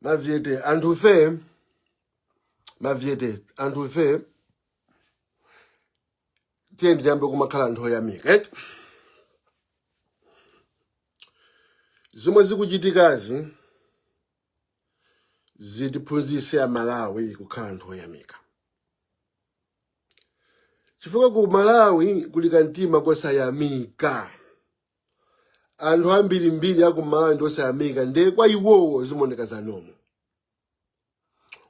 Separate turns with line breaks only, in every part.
mavyete anthufe mavyete anthufe tiyeni tiyambe kumakhala anthu oyamika eti zomwe zikuchitikazi zitiphunzise amalawi kukhala anthu oyamika chifukwa ku malawi kuli kamtima kosayamika anthu ambirimbiri akumalawi ndi osayamika ndiye kwa iwowo zimaoneka zanomo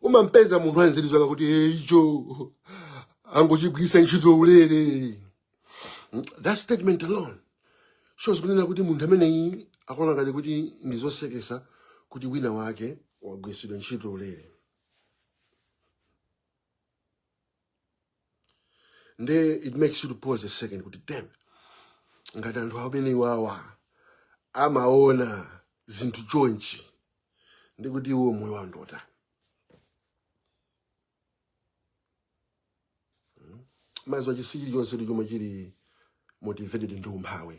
umampeza munthu ali nziii zake kuti "Eh, icho angochigwiritsa ntchito ulere Mm, that statement alone shows kunena kuti munthu ameneyi akuona ngati kuti ndi zoseketsa kuti wina wake wagwiritsidwa ntchito ulere nde it makes you to pause a second kuti damn ngati anthu amenewawa amaona zinthu chonchi ndi kuti iwo moyo wawo ndi otani maziwa chinthu chilichonse ndi chomwe chili motivated ndi umphawi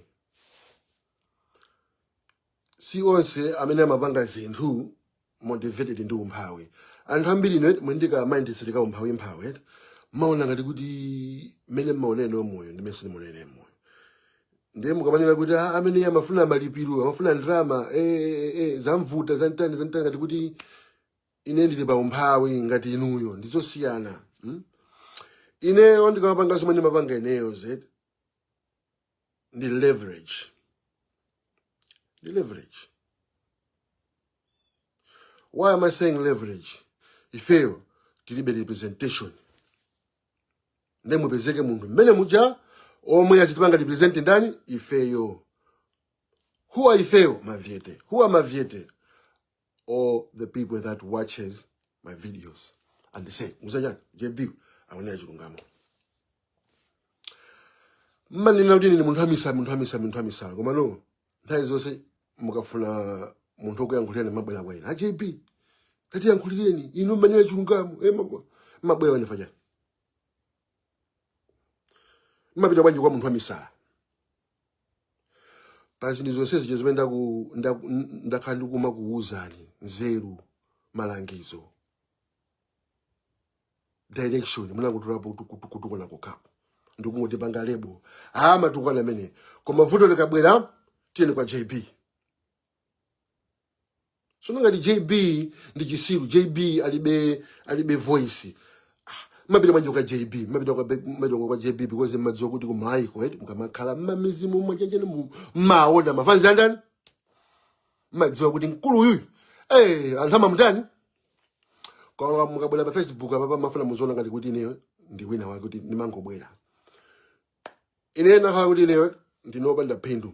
si onse amene amapanga zinthu motivated ndi umphawi anthu ambiri ine muli ndi ka mindset ka umphawi mphawi eti mmaona ngati kuti mmene mmaonene moyo ndi mmene simuonene moyo ndiye mukamanena kuti "Ah, amene iye amafuna malipiro amafuna ndalama eh, eh, eh, zamvuta zantani zantani ngati kuti ine ndili pa umphawi ngati inuyo ndizosiyana hmm? ineyo ndikamapanga zomwe ndimapanga ineyo zedi ndi leverage ndi leverage why am i saying leverage ifeyo tilibe representation nde papezeke munthu mmene muja omwe azitipanga represent ndani ifeyo who are ifeyo mavyete who are mavyete all the people that watches my videos and they say mudziwa chani jb akunena chilungamo mmanena kuti ndine munthu amisala munthu amisala munthu amisala komano nthawi zonse mukafuna munthu okuyankhulirani mmabwera kwa ine a jb katiyankhulireni inu mmanena chilungamo eh, mmabwa- mmabwera kwa ine chifukwa chani mmapita bwanji kwa munthu amisala pa zinthu zonse zija zimene ndaku- ndaku- n- ndakhala ndikumakuwuzani nzeru malangizo direction munangotolapo kutukwana kokhapo ndikungotipanga lebo aa amatukwana amene koma vuto likabwera tiyeni kwa jb sono ngati jb ndi chisiru jb alibe alibe voice mmapita manje kwa jb mmapita kwa manje kwa jb because mmadziwa kuti kumalaiko eti mukamakhala mmamizimu mwachenjera mu- mmaona mafanzi atani mmadziwa kuti mkulu uyuyu eh anthu amamutani koma mukabwera pa facebook apa pamafuna muzindiona ngati kuti ineyo ndi wina wake kuti ndimangobwera ine nakhala kuti ineyo ndinopanda phindu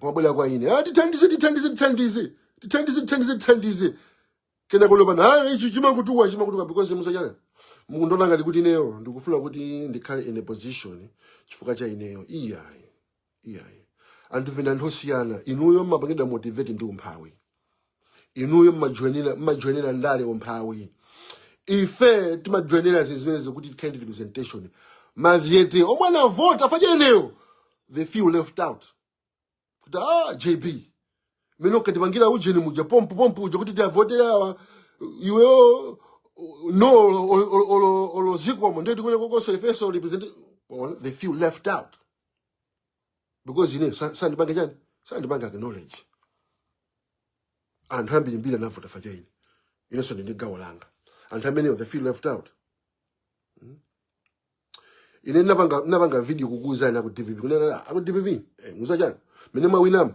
mukabwera kwa ine ah, tithandize tithandize tithandize tithandize tithandize tithandize kena konopano ah, ichi chimakutuwa chimakutuwa because muzachani muzandiona ngati kuti ineyo ndikufuna kuti ndikhale in a position chifukwa cha ineyo iyayi iyayi anthufe ndife osiyana inuyo mmapangidwa motivate ndi umphawi inuyo mmajoinira mmajoinira ndale umphawi ife timajoinira zimenezo kuti tikhale representation mavote omwe anavota achinawo they feel left out kuti ah jb mmene unkatipangira ujeni muja pompu pompu uja kuti tiavotere awa iweyo no olo zikomo ndio tikuone konkonso ifeso represent they feel left out because ine sa- sandipange chani sandipange acknowledge anthu ambiri mbiri anavota achani inenso ndili ndi gawo langa anthu amenewo they feel left out ine ndinapanga ndinapanga video kukuuzani aku dpp kunena aku dpp eh, muza chani mene mwawinamu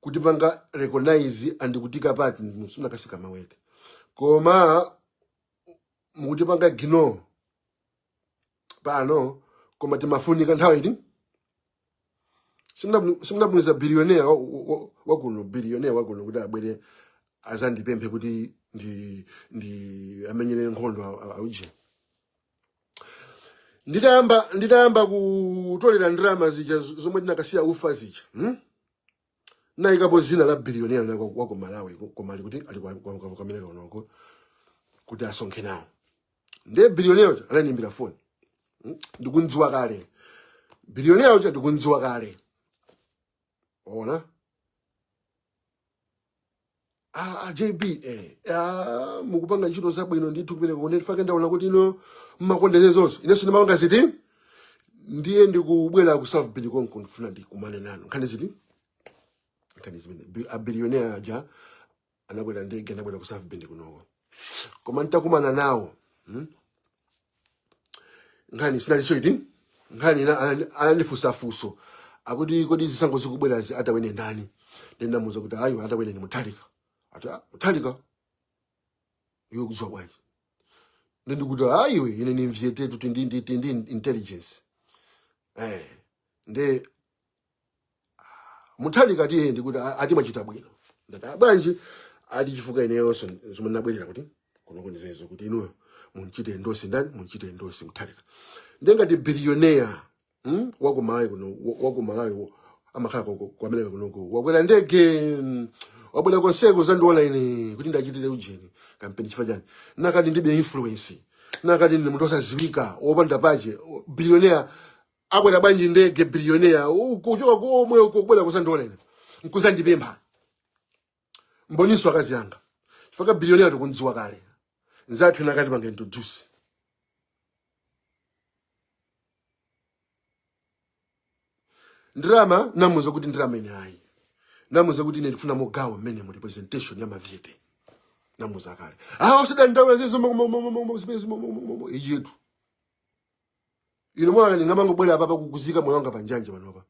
kutipanga recognize and kutiika pati zinakasika mavote koma mukutipanga ignore pano koma timafunika nthawi iti Simuna- simunatumize bilionea wa- wa- wakuno bilionea wakuno kuti abwere azandipemphe kuti ndi ndi amenyere nkhondo a- a- auje nditayamba nditayamba kutolera ndalama zija z- zomwe tinakasiya ufa zija hmm? anayikapo zina bilionea wina wa ku malawi ku- koma ali kuti ali kwa- kwa- kwa- kwamene kaonoko kuti asonkhe nawo ndiye bilionea uja ananimbira foni hmm? ndikunziwa kale bilionea uja ndikunziwa kale waona Ah, ah, JB eh, ah, mukupanga ntchito zabwino ndithu kupereka kwa ena ufake ndaona kuti inu mmakonda zazonse inenso ndimapanga ziti ndiye ndikubwera ku South Bend konko ndifuna ndikumane nanu nkhani ziti nkhani zimene Bi- a billionaire aja anabwera ndege anabwera ku South Bend kunoko koma nitakumana nawo hmm? nkhani sinaliso iti nkhani ina anandi- anandifunsa funso akuti kodi zisankho zikubwerazi atawine ndani ndinamuza kuti ayi atawine ndi muthalika ati "Ah, muthalika iwe ukuziwa bwanji ndi ndikuti ayiwe ine ndi mvieti tu tindi ndi- tindi intelligence eh nde muthalika tiye ndikuti a- ati mwachita bwino ndati "Ah, bwanji ati chifukwa ineyonso zomwe ndinabwerera kuti kuno konseko kuti inuyo mumuchite endorse ndani mumuchite endorse muthalika nde ngati bilioneya mm? wakumalawi kuno wa- wakumalawi wo- amakhala kwa- kwa- kwameneko kunoko wakwera ndege mm, wabwera konseko kuzandiona ine kuti ndiwachitire ujeni kampeni chifukwa chani kanakhala kuti ndibe influence kanakhala kuti ndi munthu osaziwika opanda pache bilioneya akwera bwanji ndege billionaire kuchoka komwe uko kubwera kuzandiona ine nkuzandipempha mboninso akazi anga chifukwa billionaire tikunziwa kale nzathu ena akuti pangeni introduce ndalama ndinamuuza kuti ndalama ine ayi ndinamuuza kuti ine ndifuna mogawo mmene mu representation ya mavyete ndinamuuza kale awa usadandaula za zomwezi yetu inu mukuona ndingamangobwera apa kuika moyo wanga panjanji panopa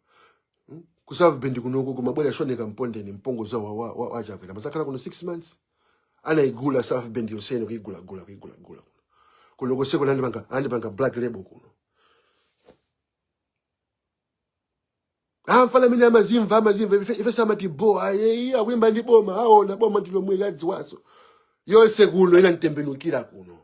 Hmm? ku south bend kunoko kumabwera Shadric Namalomba ndi mpongo zawo wa- wa- wa- wachakwera mazakhala kuno six months anaigula south bend yonse kuigulagula kuigulagula kuno kuno konseko andipanga andipanga black label kuno amfana amene amazimva amazimva ife ife samati bo aye ayi akuyimba ndi boma aona boma ndilomwe ladziwaso yonse kuno inanditembenukira kuno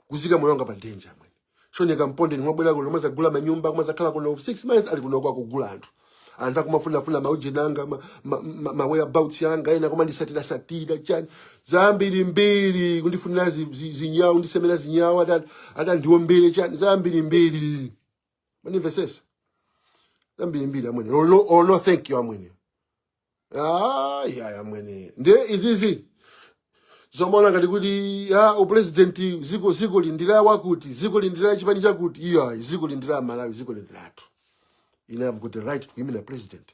kuika moyo wanga pa danger amwene shoneka mpondeni mwabwera kuno mwazagula manyumba mwazakhala kuno 6 months ali kuno akugula anthu anthu akumafunafuna maujeni anga ma, ma, ma, ma whereabouts yanga ena kumandisatira satira chani zambiri mbiri kundifunira zi- zi- zinyau kundisemera zinyau ati ati andiombere chani zambiri mbiri mwandimvesesa zambiri mbiri amwene oh no, oh no thank you amwene Ah, ya ya amwene. Nde izizi zomaona ngati kuti ya upresidenti sikuti zikulindira wakuti zikulindira chipani chakuti iya zikulindira Malawi zikulindira anthu. I have got the right to imina president.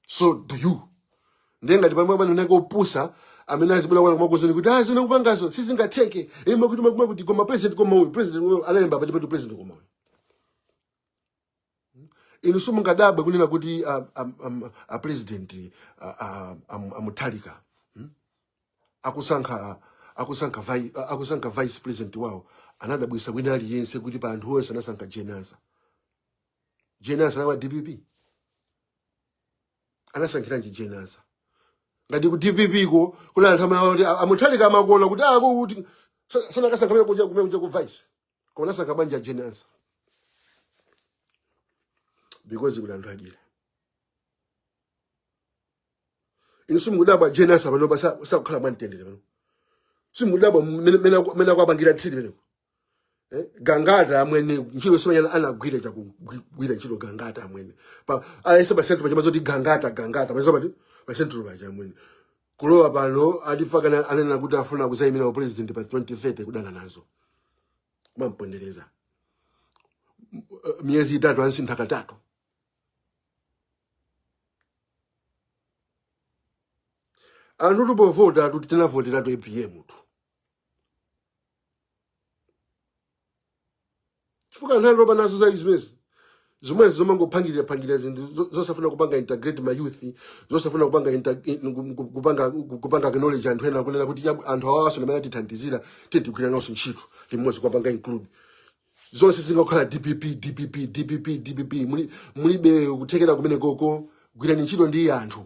So do you. Nde ngati pomwe pano nako upusa amene azibula kwana kumakuuzani kuti ah zimene ukupangazo sizingatheke. Ima kuti akuti ma kuti koma president koma uyu president uyu analemba pa ndipo president koma uyu. inu simungadabwe kunena kuti a, a, a, a president a, a, a, a Mutharika hmm? akusankha akusankha vi- akusankha vice president wawo anadabwisa wina aliyense kuti pa anthu onse anasankha Jane Ansah Jane Ansah nawa dpp anasankhiranji Jane Ansah ngati ku dpp ko kuli anthu amene amati a- a Mutharika amakuona kuti akuti sanakasankha kumene uja kumene uja ku vice koma nasankha bwanji ajeni Ansah because kuli anthu adyera inu simukudabwa ajeni Ansah panopa sa- sakukhala mwamtendere pano simukudabwa mmene- mmene aku- mmene akuwapangira thiri pano Eh, gangata amwene ntchito simwaiona anagwira chakugwira ntchito gangata amwene pa alese pa central pachama zoti gangata gangata pachama pati pa central paja amwene kulowa pano alipaka anena kuti afuna kuzayimira u president pa 2030 kudana nazo mampondereza miyezi itatu amusintha katatu anthu tikupovota tuti tinavoteratu apm tu chifukwa anthu atopa nazo za zimenezo zomwezo zomangopangirira pangirira zinthu zo- zosafuna kupanga integrate ma youth zosafuna kupanga inter- in- ku- ku- kupanga ku- kupanga knowledge anthu ena kunena kuti chabu- anthu awawaso amene atithandizira tiye tigwire nawo ntchito limodzi kupanga include zonse zingakhala dpp dpp dpp dpp Muli- mulibe kuthekera kumene koko gwirani ntchito ndi anthu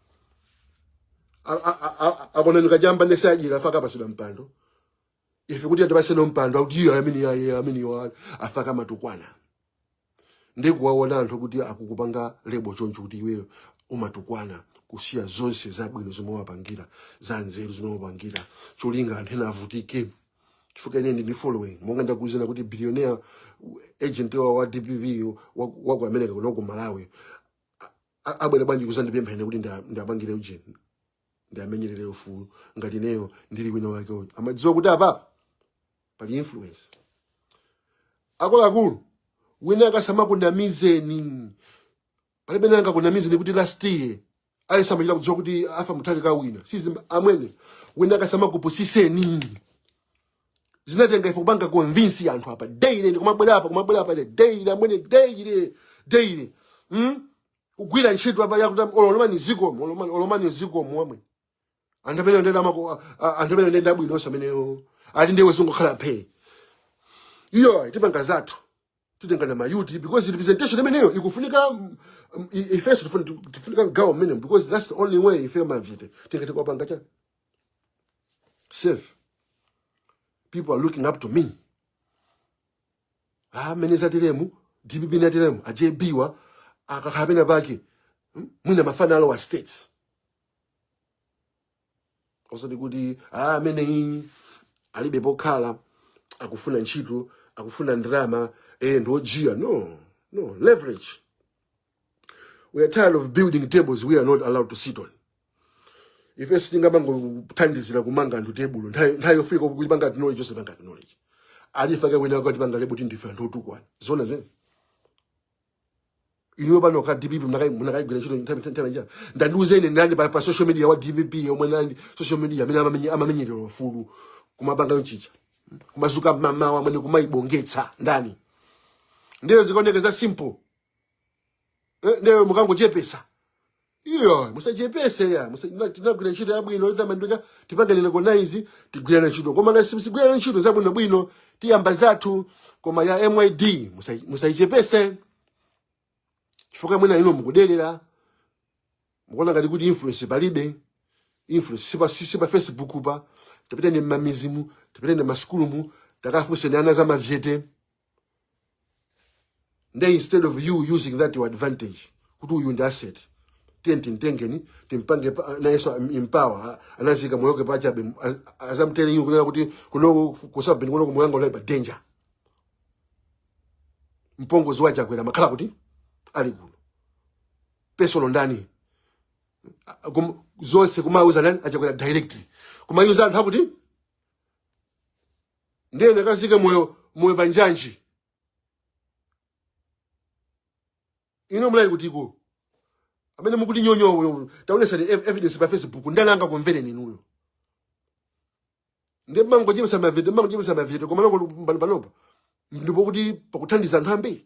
A- a- a- a- akona nikajamba nesajira afaka pasida mpando ife kuti atipatsenso mpando akuti iyo amene aye amene iwo afaka matukwana ndikuwaona anthu kuti akukupanga lebo choncho kuti iweyo umatukwana kusiya zonse zabwino zomwe wapangira za nzeru zomwe wapangira cholinga anthu ena avutike chifukwa ine ndi following monga ndakuuzani kuti billionaire agent wa wa dpp wa wa ku america kuno ku malawi a- a- abwere bwanji kuzandipempha ine kuti nda- ndiwapangire ujeni ndiwamenyerere ufulu ngati ineyo ndili wina wake uyu amadziwa kuti apa pali influence akuluakulu wina akasamakunamizeni palibe angakunamizeni kuti last year ali samachita kudziwa kuti afa mutali ka wina sizi amwene wina akasamakupusiseni zinatenga ife kupanga convince anthu apa daily ndi kumabwera apa kumabwera apa daily amene daily daily mm? kugwira ntchito apa yakuti olomani zikomo olomani olomani zikomo wamwe anthu amene ndayenda nawo anthu amene ndayenda bwino onse ameneyo ali ndiwe zingokhala phe iyo tipanga zathu titengana ma youth because representation imeneyo ikufunika mm, mm, ifeso tifuni- tifunika gawo mmene because that's the only way ife ma youth tingathe kupanga cha safe people are looking up to me ah mmene zateremu dpp inateremu a jb wa akakhala pena pake hmm? mwina mafana alowa states osati kuti ah ameneyi alibe pokhala akufuna ntchito akufuna ndalama eh ndiojiya no no leverage we are tired of building tables we are not allowed to sit on ife sitingamangothandizira kumanga anthu tebulo nthawi nthawi yofika kuti panga acknowledge yotipanga acknowledge alifa kakwena kutipanga label kuti ndife anthu otukwana zona zimene iliyo pano ka dpp munakaigwira ntchito nthawi nthawi njira tandiuzani ndani pa, pa social media wa dpp yomwe ndani social media amene amamenye- amamenyerera ufulu kumapanga yochicha kumazuka mamawa amene kumaibongetsa ndani ndiyo zikaoneka za simple nde mukangochepesa iyo musachepese ya musa- na- tinagwira ntchito yabwino itamandika tipanganire konizi tigwirana ntchito koma ngati simsigwirana ntchito zabwinobwino tiyamba zathu koma ya myd musa- musaichepese chifukwa mwina ino mukuderera mukuona ngati kuti influence palibe influence sipa, si- sipa facebook pa tapitani mmamizimu tapitani mmasukulumu takafunsani ana za mavete nde instead of you using that to your advantage kuti uyu ndi asset tiyeni timtengeni timpange pa- nayenso empower anaika moyo wake pachabe az- azamtene iwo kunena kuti kuno kusabini kuno kumulanga unali pa danger mpongozi wa chakwera amakhala kuti ali kuno pesolo ndani A- kum- zonse kumauza ndani achakwera directly kumawauza anthu akuti ndiye ndikaike moyo moyo pa njanji inu munali kuti iko amene mukuti nyonyo taonesani ev- evidence pa facebook ndani angakumvereni inuyo ndiye mmangochepesa mavie mmangochepesa mavie komano panopa ndi pomwe pakuthandiza anthu ambiri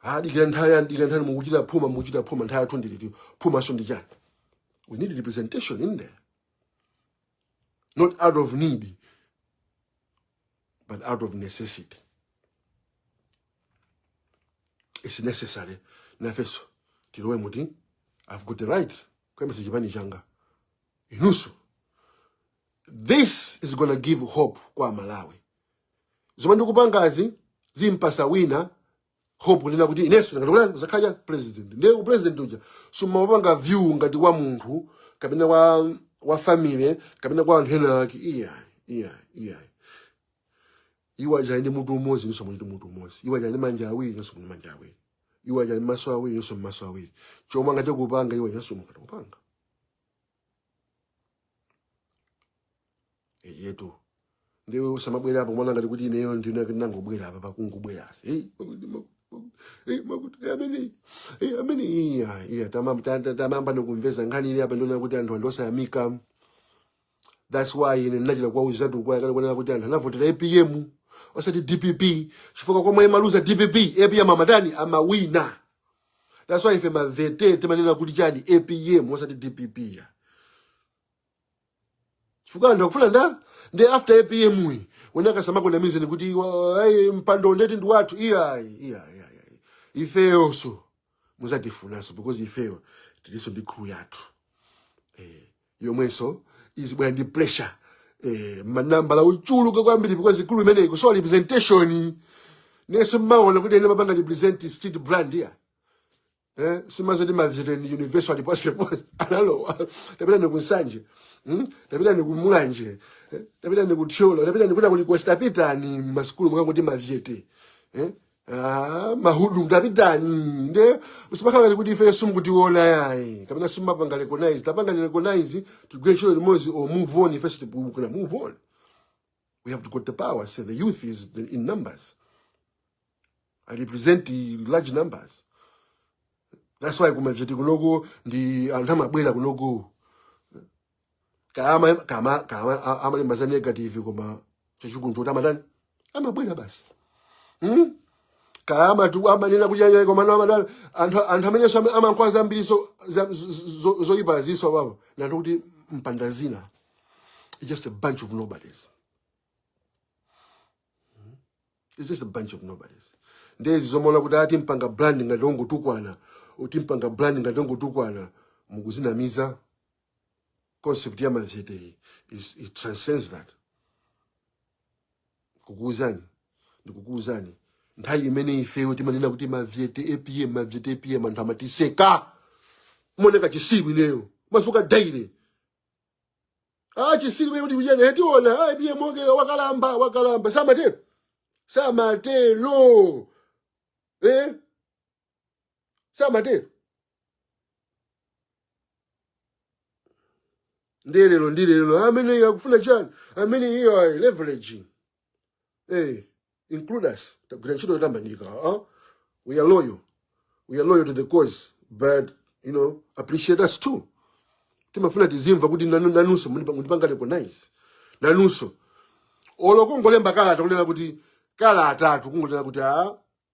adikira nthawi yanji dikira nthawi mukuchita phuma mukuchita phuma nthawi yathu ndi liti phumanso ndi chani we need representation in there not out of need but out of necessity it's necessary nafeso tilowemo i've got the right kuyambitsa chipani changa inuso this is gonna give hope kwa malawi zomwe ndikupangazi zimpasa wina hope kunena kuti inenso ndingathe kuzakhala president ndiye u president uja tisamaupange view ngati wa munthu kapena wa wa family kapena kwa anthu ena ake iya iya iya iwo aja ndi mutu umodzi inenso muli ndi mutu umodzi iwo aja ndi manja awiri inenso muli ndi manja awiri iwo aja ndi maso awiri inenso muli maso awiri chomwe angathe kupanga iwo inenso mungathe kupanga eyetu ndiwe usamabwere apa mwina ngati kuti ineyo ndinangobwera apa pakungobwera asi hey, makuti, makuti, makuti, hey, makuti, hey, amene hey, amene iya iya tamam- ta- ta- tamayamba ndikumveza nkhani ili apa ndiona kuti anthu ndi osayamika that's why ine ndinachita kuwauzatu kwa kana kuonera kuti anthu anavotera apm osati dpp chifukwa komwe imaluza dpp, apm amatani amawina that's why ife mavyete timanena kuti chani apm osati dpp ya chifukwa anthu akufuna ndani after apm iwe nde akasamakunamizeni kuti wa- ayi, mpando ndeti ndi wathu iyayi iyayi iyayi. ifeyonso muzatifunanso because ifeyo tilinso ndi crew yathu eh, yomwenso izibwera ndi pressure eh, manambala ochuluka kwambiri because crew imeneyi kusowa representation nenso mmaona kuti ine mapanga represent street brand ya eh, si zoti mavyete universe ali ponseponse analowa tapitani ku nsanje mm? tapitani ku mulanje eh? tapitani ku thyolo tapitani kuda kulikonse tapitani m'masukulu mukangoti mavyete eh? ah, mahudu tapitani nde usimakangani kuti ife simukutiona yayi kapena simumatipanga recognize tipangeni recognize tigwire ntchito limodzi o move on ife sitikufuna move on We have got the power. I say the youth is the, in numbers. I represent the large numbers. That's why kumavyete kunoko ndi anthu amabwera kunoko kama kama kama a- amalemba za negative koma chachikulu choti amatani amabwera basi hmm? kama tu amanena kunyanya koma na amatani anthu anthu amene so amakamba zambiri so za- zo- zo- zoyipa aziswa awowo ndi anthu oti opanda dzina It's just a bunch of nobodies. Hmm? It's just a bunch of nobodies. Ndiye izi zomati atipanga brand ngati ongotukwana, atipanga brand ngati ongotukwana, mukuzinamiza concept ya mavyete it transcends that. Kukuuzani, ndikukuuzani. Nthawi imene ifeyo timanena kuti mavyete APM, mavyete APM anthu amatiseka. Nimaoneka chisiru ineyo. Masuka daily. ah chisiru chimene kuti kuchena hetiona APM nkhalamba wakalamba wakalamba samatero samatero eh samatero ndi lero ndi lero ameneyo akufuna chani ameneyo ayi leveraging hey, include us tagwira ntchito yotamandika huh? we are loyal we are loyal to the cause but you know appreciate us too timafuna tizimva kuti nanu- nanunso mukutipa- mukutipanga recognize nanunso olo kungolemba kalata kunena kuti kalata yathu kungonena kuti a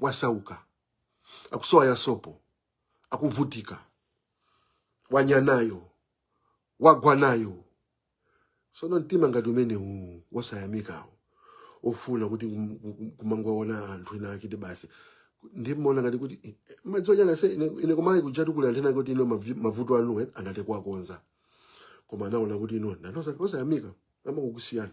wasauka akusowa ya sopo akuvutika wanya nayo wagwa nayo sono mtima ngati umenewu wosayamikawo ofuna kuti kum- kum- kumangwaona anthu ena akiti basi ndimaona ngati kuti eh, eh, madziwa chani ase ine ine kumayika kutukula anthu ena ake kuti ino mavi- mavuto anu eh, angathe kuwakonza koma anaona kuti ino ndinu osayamika amakusiyani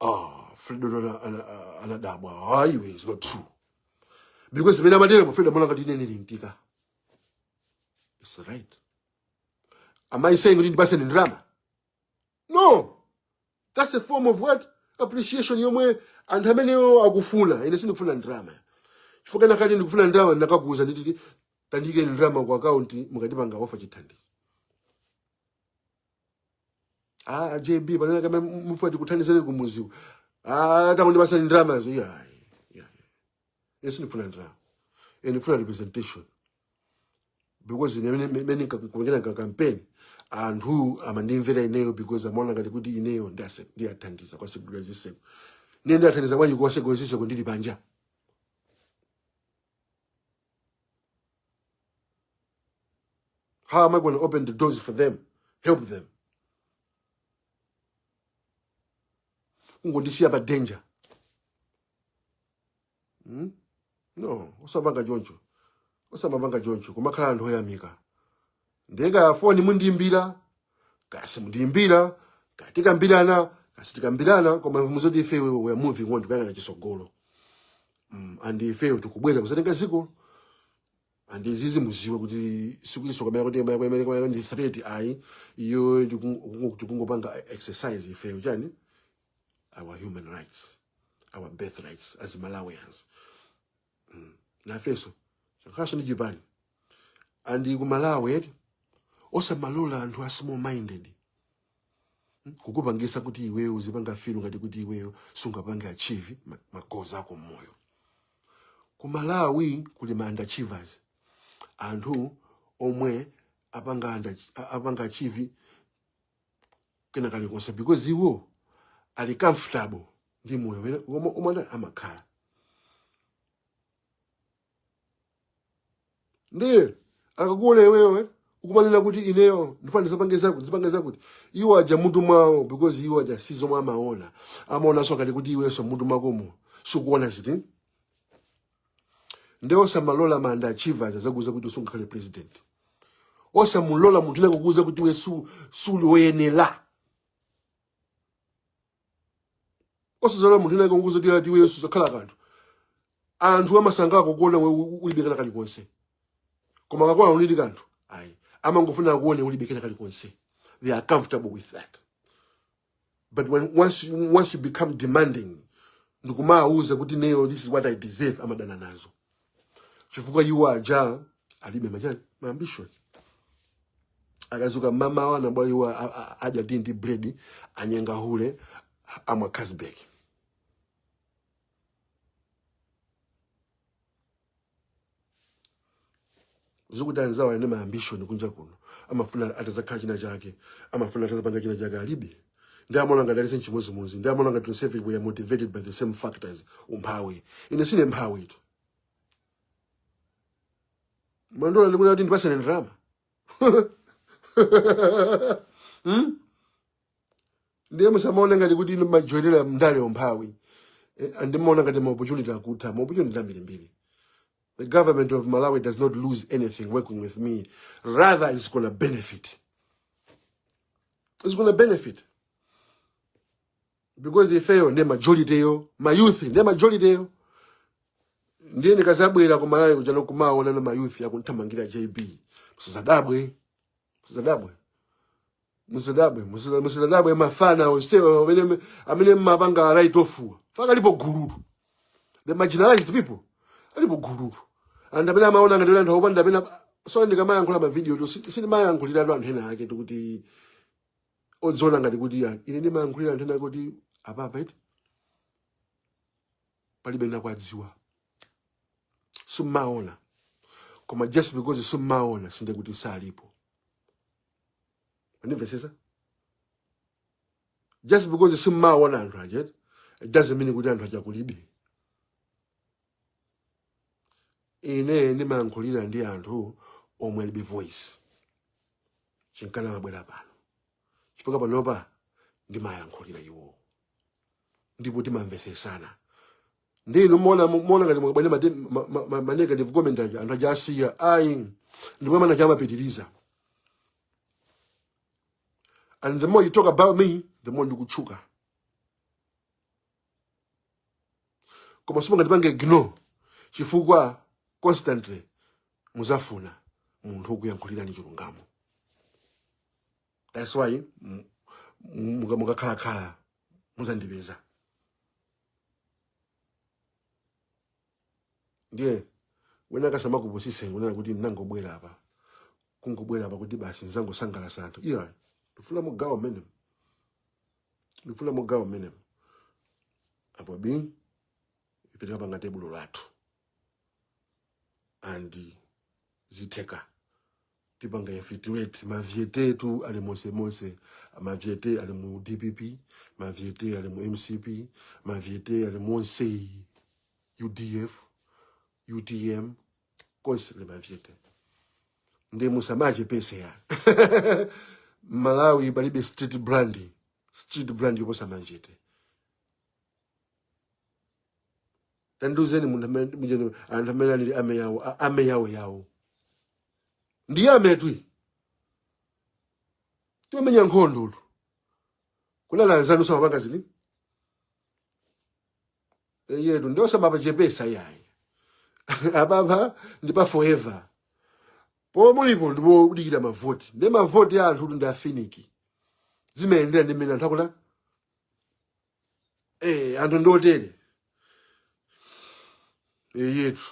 ah fredo ana- ana- ah, anadabwa ah iwe is not true because zimene amatera mu fredo amalankhula ndine nili mtika that's right am i saying kuti ndipatseni ndalama no that's a form of what appreciation yomwe anthu amenewo akufuna ine sindikufuna ndalama chifukwa ndikanakhala kuti ndikufuna ndalama ndakakuuza nditi tandikeni ndalama ku akaunti mukandipanga ofa chithandizo ah jb ananena kama mufuna tikuthandizeni kumuziku ah tangondipasani ndalama zo iya iya ase sindifuna ndalama ndifuna representation because ine mene mene ndikapangira ka campaign anthu amandimvera ineyo because amaona ngati kuti ineyo ndase- ndiwathandiza kuwasegulira ziseko ndiye ndiwathandiza bwanji kuwasegulira ziseko ndili panja How am I going to open the doors for them? Help them. Ungondisiya panja. Hmm? No, osapanga choncho. Osamapanga choncho. Kumakhala anthu oyamika. ndiye kaya foni mundiimbira kaya simundiimbira kaya tikambirana kaya sitikambirana koma muziwe zoti ife we we are moving on tikuyang'ana chisogolo mm, and ifeyo tikubwera kuzatenga ziko and zizi muziwe kuti sikutinso kamena kuti kamena kamena kamena ndi threat ayi ifeyo tikungo- tikungopanga exercise ifeyo chani our human rights our birth rights as malawians Mm. nafenso chathuso ndi chipani and ku malawi eti osamalola anthu a small minded mm, kukupangisa kuti iweyo uzipanga feel ngati kuti iweyo sungapange achieve ma- magoals ako mmoyo ku malawi kuli ma underachievers anthu omwe sanapange under, sanapange achieve kena kalikonse because iwo ali comfortable ndi moyo wawo omwe omwe ana- amakhala ndiye akakuona iwewe ukumanena kuti ineyo ndifuna ndizapange zakuti ndizapange zakuti iwo aja mutu mwawo because iwo aja si zomwe amaona amaonanso ngati kuti iwenso mutu mwakomo sukuona ziti nde osamalola ma underachievers azakuuze kuti usungakhale president osamalola munthu wina akuuze kuti we su- suli woyenera osazalola munthu wina akuuze kuti ati iweyo suzakhala kanthu anthu amasangalala kukuona we u- ulibe kena kalikonse koma akakuona uli ndi kanthu ayi amangofuna akuone ulibe kena kalikonse they are comfortable with that but when, once, you- once you become demanding ndikumawuza kuti ineyo this is what i deserve amadana nazo chifukwa iwo aja alibe machani ma ambition akadzuka m'mamawa anambwala iwo a- a- adya ndi ndi bread anyenga hule amwa casbek sakuti anzawo ali ndi ma ambition kunja kuno amafuna atazakhala china chake amafuna atazapanga china chake alibe nde amaona ngati aliyense nchimodzimodzi nde amaona ngati tonsefe we are motivated by the same factors umphawi ine sine mphawi tu mundiona ndikuti kuti ndipatseni ndalama hmm? ndiye musamaone ngati kuti ine majoyinera ndale yo umphawi Eh, nde maona ngati ma opportunity akutha ma opportunity ambirimbiri the government of malawi does not lose anything working with me rather it's gonna benefit it's gonna benefit because ifeyo ndiye majority yo ma youth ndiye majority yo ndiye ndikazabwera kumalawi kuja nkumaona ma youth akuthamangira jb musazadabwe musazadabwe musadabwe musada- musadabwe mafana onsewa amene amene mmapanga right ofuwa faka alipo gulutu the marginalized people alipo gulutu and amene amaona ngati kuti anthu akupanda amene so ndikamayankhula mavidiyo tu sindimayankhulira tu anthu ena ake oti kuti odziona ngati kuti ya ine ndimayankhulira anthu ena ake kuti apapa eti palibe akuwadziwa simmaona koma just because simmaona sinde kuti salipo Unimvesesa? Just because simumaona anthu aja, it doesn't mean kuti anthu aja kulibe. Ine ndimayankhulira ndi anthu omwe alibe voice. Chinkana mabwera pano. Chifukwa panopa ndimayankhulira iwo. ndipo timamvetsesana ndi ine muona muona ngati mukabwera mate- ma- ma- ma- ma negative comment aja anthu aja asiya ayi ndipo amene aja amapitiriza and the more you talk about me the more ndikutchuka koma simungandipange ignore chifukwa constantly muzafuna munthu wokuyankhulirani chilungamo that's why mm, mm, muka- mukakhalakhala muzandipeza ndiye wena akasamakupusise kunena kuti ndinangobwera apa kungobwera apa kuti basi ndizangosangalatsa anthu iya ndifuna mugawo mmenemo ndifuna mugawo mmenemo apo bii ife tikapanga tebulo lathu and zitheka tipanga infiltrate mavyete tu ali monse monse mavyete ali mu dpp mavyete ali mu mcp mavyete ali monse udf utm konse ali mavyete ndi musamache pesa ya malawi palibe street brand street brand yoposa mavyete tandiuzeni munthu amene- mujeni- anthu amene anali amayi awo a- amayi awo awo ndi amene timamenya nkhondotu kunali anzanu samapanga zini eyetu ndiye osamapachepesa yayi apapa ndi pa forever pomwe mulipo ndipo udikira mavoti ndi mavoti a anthu kuti ndi afiniki zimayendera ndi mmene anthu akula eh anthu ndotele eyetu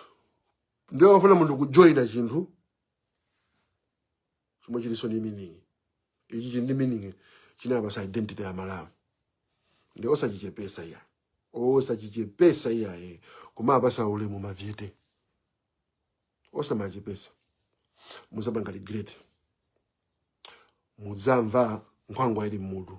ndiye afuna munthu kujoina chinthu chomwe chilinso ndi meaning ichi chili ndi meaning chinapasa identity ya malawi nde osachichepesa iya osachichepesa iya eh kumapasa ulemu mavyete osamachepesa muzapanga regret mudzamva nkhwangwa ili mmutu